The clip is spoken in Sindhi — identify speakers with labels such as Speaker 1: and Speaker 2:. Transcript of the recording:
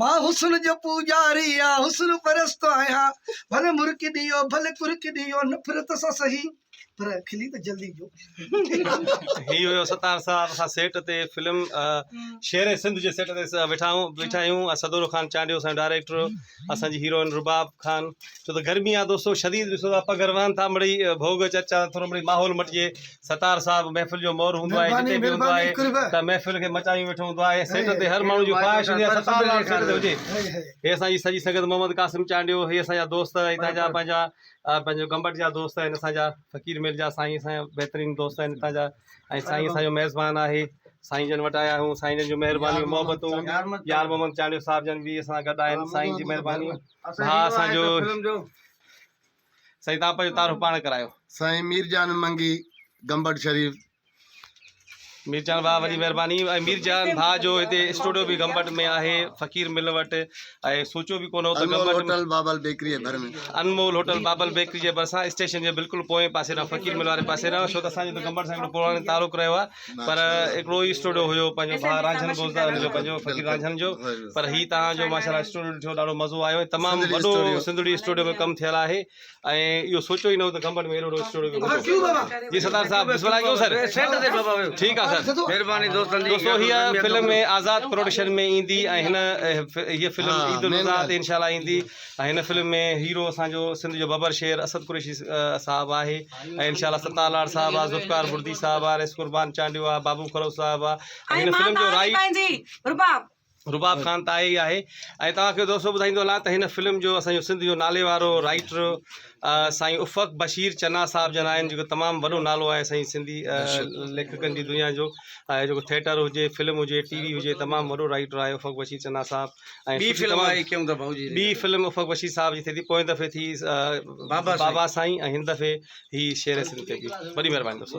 Speaker 1: مان حسن جو پوڄاري يا حسن پرست آهيان ڀلي مرڪي ڏيو ڀلي ڪرڪي ڏيو نفرت سان سهي پر کلي ته جلدي جو
Speaker 2: هي هيو ستار صاحب اسان سيٽ تي فلم شير سنڌ جي سيٽ تي ويٺا آهيون بيٺا آهيون سدورو خان چانڊيو اسان ڊائريڪٽر اسان جي هيروئن رباب خان ڇو ته گرمي آ دوستو شديد ڏسو ٿا پگهر وهن ٿا مڙي ڀوڳ چرچا ٿورو مڙي ماحول مٽجي ستار صاحب محفل جو مور هوندو آهي جتي به هوندو آهي ته محفل کي مچايون ويٺو هوندو آهي سيٽ تي هر ماڻهو جي خواهش هوندي آهي ستار لال سيٽ تي هجي هي اسان جي سڄي سنگت محمد قاسم چانڊيو هي اسان جا دوست هتان جا پنهنجا پنهنجو گمبٽ جا دوست آهن اسان جا فقير ميل جا سائين اسان جا بهترين دوست آهن هتان جا ۽ سائين اسان جو ميزبان آهي سائين جن وٽ آيا آهيون سائين جن جون مهربانيون محبتون يار محمد چانڊيو صاحب جن به اسان سان گڏ آهن سائين جي مهرباني ڀاء اسان جو سائين تان پنهنجو تعارف پاڻ ڪرايو. سائين مير جان
Speaker 3: منگي گمبٽ شريف.
Speaker 2: مير جان ڀاء وڏي مهرباني ۽ مير جان ڀاء جو هتي اسٽوڊيو به گمبٽ ۾ آهي فقير مل وٽ ۽ سوچيو به ڪونه هو ته گمبٽ انمول هوٽل بابل بيڪري جي
Speaker 3: ڀر ۾ انمول هوٽل بابل
Speaker 2: بيڪري جي ڀرسان اسٽيشن جي بلڪل پوئين پاسي ڏانهن فقير مل واري پاسي ڏانهن ڇو ته اسان جو ته گمبٽ سان هڪڙو پراڻي تعلق رهيو آهي پر هڪڙو ئي اسٽوڊيو هيو پنهنجو ڀاء رانجهن گوزدار هن جو پنهنجو فقير رانجهن جو پر هي توهان جو ماشاءالله اسٽوڊيو ڏٺو ڏاڍو مزو آيو ۽ تمام وڏو سنڌڙي اسٽوڊيو ۾ ڪم ٿيل آهي ۽ اهو سوچيو ئي نه هو ته گمبٽ ۾ اهڙو وڏو اسٽوڊيو به هوندو جي ستار صاحب بسم الله ڪيون سر سيٽ تي بابا ويو ٺيڪ آهي سر مهرباني دوستن جي دوستو هي فلم آزاد پروڊڪشن ۾ ايندي ۽ هن هي فلم عيد الاضحي تي انشاء الله ايندي هن فلم ۾ هيرو اسان جو سنڌ جو ببر شير اسد قريشي صاحب آهي ۽ انشاء الله ستار لاڙ صاحب آ ذوالفقار بڙدي صاحب آ ريس قربان چانڊيو آ بابو خروس صاحب آ ۽ هن فلم جو رائٽ رباب خان ته آهي ئي آهي ۽ توهان کي دوستو ٻڌائيندو هلان ته هن فلم جو اسان جو سنڌ جو نالي وارو رائٽر سائين افق بشير چنا صاحب جن آهن جيڪو تمام وڏو نالو آهي سائين سنڌي ليکڪن جي دنيا جو جيڪو ٿيٽر هجي فلم هجي ٽي وي هجي تمام وڏو رائٽر آهي افق بشير چنا صاحب ۽ ٻي فلم آهي ڪيون ٿا ڀائو جي ٻي فلم افق بشير صاحب جي ٿي ٿي پوئين دفعي ٿي بابا سائين ۽ هن دفعي هي شير سنڌ تي ٿي وڏي مهرباني دوستو